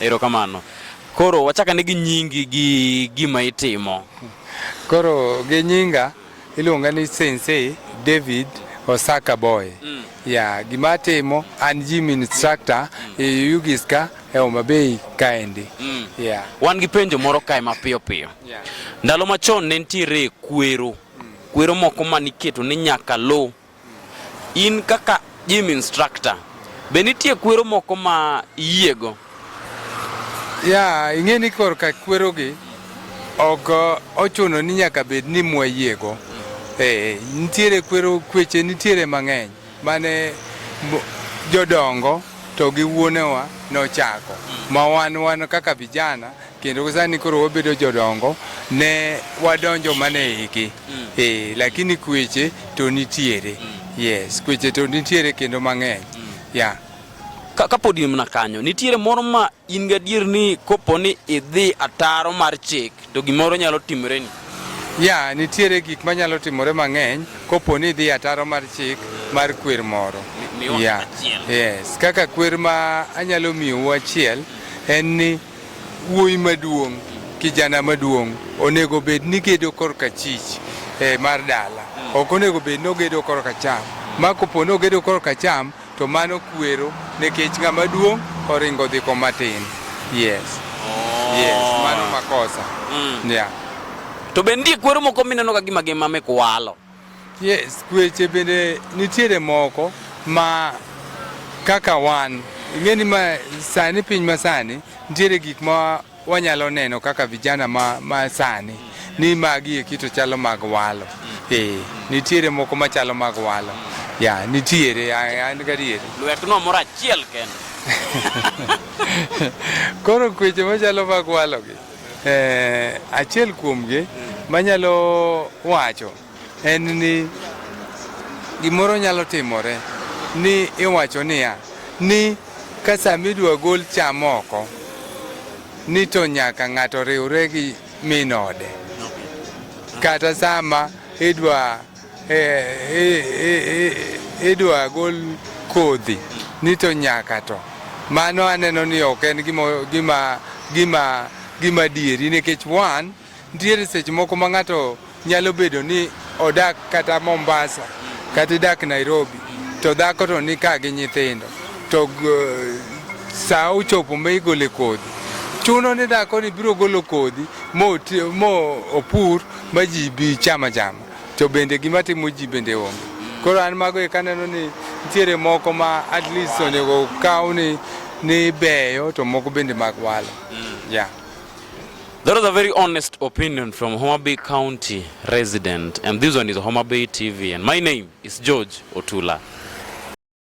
Erokamano. Koro wachakane gi nyingi gi gima itimo. Koro gi nyinga iluonga ni Sensei David Osaka Boy. Mm. Ya, gima atimo an gym instructor mm. e Yugiska e Homa Bay kaendi. Mm. Yeah. Wan gi penjo moro kae mapiyo piyo. Yeah. Ndalo machon ne nitiere kwero. Mm. Kwero moko maniketo ni nyaka lo. In kaka gym instructor, be nitie kwero moko ma iyiego? Ya, ing'e ni korka kwerogi ok ochuno ni nyaka bed ni mwayiego. Eh, nitiere kwero kweche nitiere mang'eny mane mo- jodongo to gi wuonewa nochako ma wan wan kaka vijana kendo sani koro wabedo jodongo ne wadonjo mana e igi mm. e, lakini kweche to nitiere mm. yes kweche to nitiere kendo mang'eny mm. yeah. Ka, kapod in mana kanyo nitiere moro ma in gadier ni kopo ni idhi ataro mar chik to gimoro nyalo timore ni ya nitiere gik manyalo timore mang'eny kopo ni idhi ataro mar chik mar kwer moro yeah. yes. kaka kwer ma anyalo miyowu achiel en ni Wuoyi maduong', kijana maduong' onego bed ni gedo korka chich eh, mar dala, ok onego bed ni ogedo korka cham. Ma kopo ni ogedo korka cham to mano kwero nikech ng'ama duong' oringo dhi koma tin. Yes. Yes, mano makosa. Yeah. To be nitie kwero moko mineno ka gima gima mikwalo. Yes, kweche bende nitiere moko ma kaka wan ing'eni ma sani piny ma sani nitiere gik ma wanyalo neno kaka vijana ma, ma sani ni magi eki to chalo mag walo eh, nitiere moko machalo mag walo ya nitiere a- an gadieri Lwetno moro achiel kende. koro kweche machalo mag walogi Eh, achiel kuomgi manyalo wacho en ni gimoro nyalo timore ni iwacho niya ni ka sama idwa gol cham oko ni to nyaka ng'ato riwre gi min ode kata sama idwa idwa gol kodhi ni to nyaka to mano aneno ni ok en gima gima gima gima dieri nikech wan nitiere seche moko ma ng'ato nyalo bedo ni odak kata Mombasa kata idak Nairobi to dhako to ni ka gi nyithindo to saa ochopo ma igole kodhi chuno ni dhako ni biro golo kodhi mo opur ma ji bi chama chama To bende gima timo ji bende onge. Koro an mago e kaneno ni nitiere moko ma at least onego kaw ni ni beyo to moko bende mag walo. Mm. Yeah. That was a very honest opinion from Homa Bay County resident and this one is Homa Bay TV and my name is George Otula.